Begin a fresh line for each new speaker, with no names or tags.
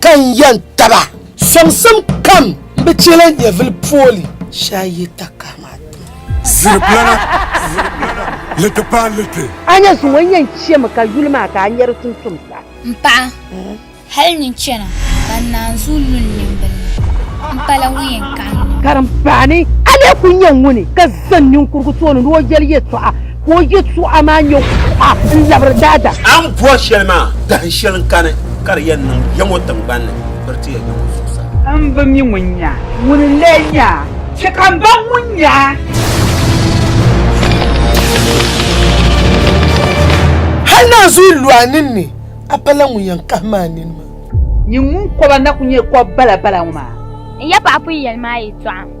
ka n yɛn taba. Sɔŋsim kam n bi chɛ la nyɛvili pooli shee a yi ta kahi ma ti. Ziriplana,
ziriplana, liti paai liti. A nya zuŋɔ n yɛn
chɛmi ka yuli maa ka a nya di tumtum sa. M paɣa,
hal nyin chana ka n naanzuu lu n nimbil ni, m pala ŋun yɛn kahi n nini. Karimbaani,
a lee kul nya ŋuni ka zani ninkurugu tooni ni o yɛli yɛtɔɣa? Ka o yɛtɔɣa maa nyɛ kuɣa n-labiri daadam. A ni bɔri shɛli maa,
dahin shɛli n-kani ka di yɛn niŋ ya ŋɔ tiŋgbani ni, biri ti ya ya ŋɔ zuɣusaa. M bi mi ŋun
nya a, ŋuni n-lee nya a? Chɛ ka m baŋ ŋun nya a.
Hal naanzuhi lu a ninni, a pala ŋun yɛn kahim a nini maa. Nyin ŋun kɔba
na kul nyɛ kɔb balabala ŋɔ maa. N yɛpaɣ pun
yɛli ma a yɛtɔɣa.